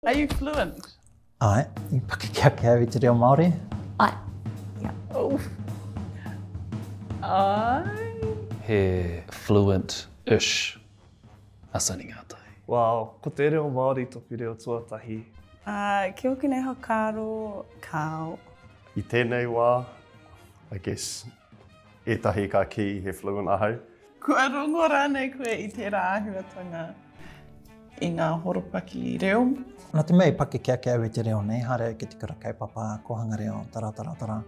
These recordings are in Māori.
Are you fluent? Aye, i pakeke ake au i te reo Māori. Aye. Yeah. Oh. Aye. He fluent-ish a Sani Ngātai. Wow, ko te reo Māori toku reo tuatahi. Uh, ki oku nei whakaaro, kao. I tēnei wā, I guess, Etahi ka ki he fluent ahau. Kua rongo rānei koe i tērā āhuatanga i ngā horopaki reo? Nā te mea i pakeke ake au i te reo nei, haere au ki te kura kaupapa kōhanga reo, tara, tara, tara.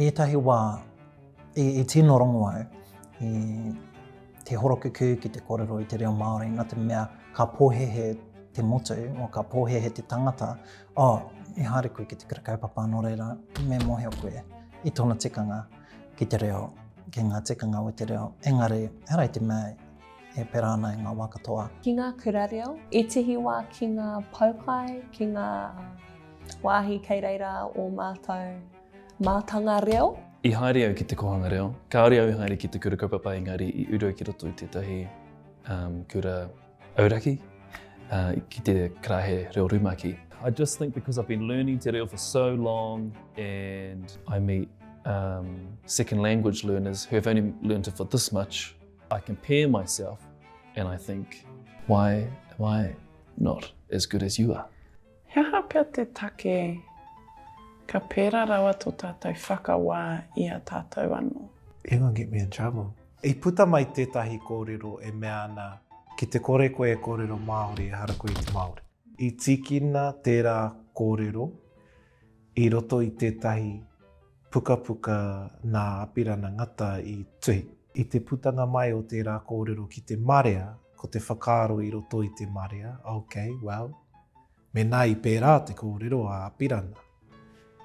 Ētahi wā, i, i tino rongo au, i te horokuku ki te kōrero i te reo Māori, nā te mea ka pōhehe te motu, o ka pōhehe te tangata, Oh, i haere koe ki te kura kaupapa nō reira, me mōhio koe i tōna tikanga ki te reo, ki ngā tikanga o te reo. Engari, he raiti mea e pera ana i ngā wā katoa. Ki ngā kura reo, ētehi wā ki ngā poukai, ki ngā wāhi kei reira o mātou mātanga reo. I haere au ki te kōhanga reo, kāore au i haere ki te kura kaupapa engari i uru au ki roto i tētahi kura. Auraki, ā, ki te karaehe reo rumaki. I just think because I've been learning te reo for so long and I meet um, second language learners who have only learned it for this much, I compare myself and I think, why am I not as good as you are? He aha pea te take ka pērā rawa tō tātou whakawā i a tātou anō? You're going to get me in trouble. I puta mai tētahi kōrero e mea ana, ki te kore koe e kōrero Māori ehara koe i te Māori. I tīkina tērā kōrero i roto i tētahi pukapuka nā Apirana Ngata i tuhi. I te putanga mai o tērā kōrero ki te marea, ko te whakaaro i roto i te marea, ok, well, Mēnā i pērā te kōrero a Apirana,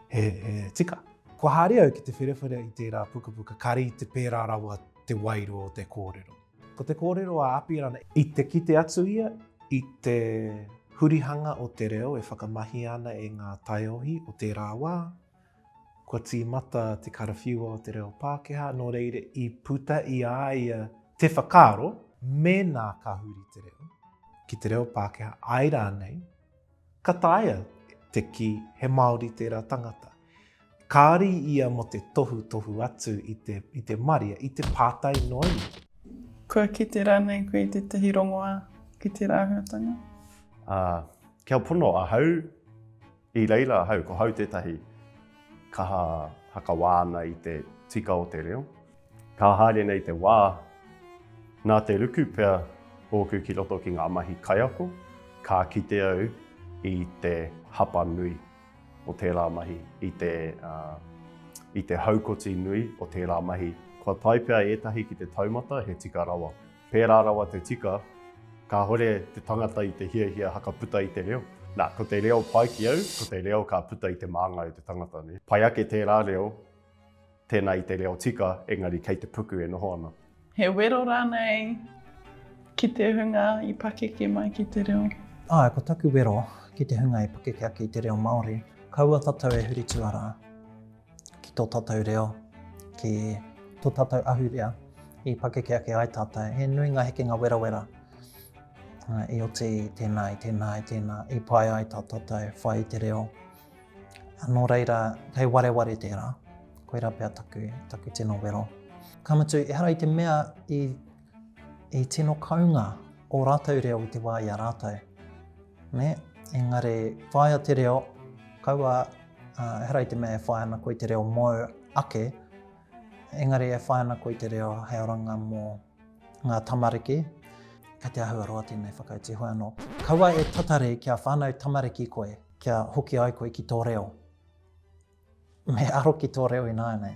he tika. Kua haere au ki te wherewhera i tērā pukapuka kāre i te pērā rawa te wairua o te kōrero. Ko te kōrero a Apirana, i te kite atu ia i te hurihanga o te reo e whakamahia ana e ngā taiohi o tērā wā, Kua tīmata te karawhiua o te reo Pākehā, nō reira i puta i a ia te whakaaro, mēnā ka huri te reo ki te reo Pākehā, āe rānei, ka taea te kī he Māori tērā tangata. Kāri ia mō te tohutohu atu i te, i te maria, i te pātai noa iho. Kua kite rānei koe i tētahi rongoā ki tērā āhuatanga? Ā, kia pono ahau, I reira ahau, ko hau tētahi kaha hakawā ana i te tika o te reo. Ka haere nei te wā, nā te ruku pea ōku ki roto ki ngā mahi kaiako, ka kite au i te hapa nui o tērā mahi, i te, i te haukoti nui o tērā mahi. Kua tae pea ētahi ki te taumata he tika rawa. Pērā rawa te tika, kāore te tangata i te hiahia haka puta i te reo. Nā, ko te reo pai ki au, ko te reo ka puta i te māngai o te tangata. Pai ake tērā reo, tēnā i te reo tika, engari kei te puku e noho ana. He wero rānei ki te hunga i pakeke mai ki te reo? Āe, ko taku wero ki te hunga i pakeke ake i te reo Māori, kaua tatau e huri tuarā. ki tō tātou reo, ki tō tātou ahurea i pakeke ake ai tātou. He nui ngā hekenga werawera i oti i tēnā, i tēnā, i tēnā, i pai ai tā tātou whai i te reo. Nō reira, kei wareware tērā, koirā pea taku, taku tino wero. Ka mutu, ehara i te mea i I tino kounga ō rātou reo i te wā i a rātou. Nē? Engari, whāia te reo, kaua, ā, ehara i te mea e whāia ana koe i te reo mōu ake, engari e whāia ana koe i te reo hei oranga mō ngā tamariki, kei te āhua roa tēnei whakautu hou anō. Kaua e tatari kia whānau tamariki koe, kia hoki ai koe ki tō reo. Me aro ki tō reo ināianei.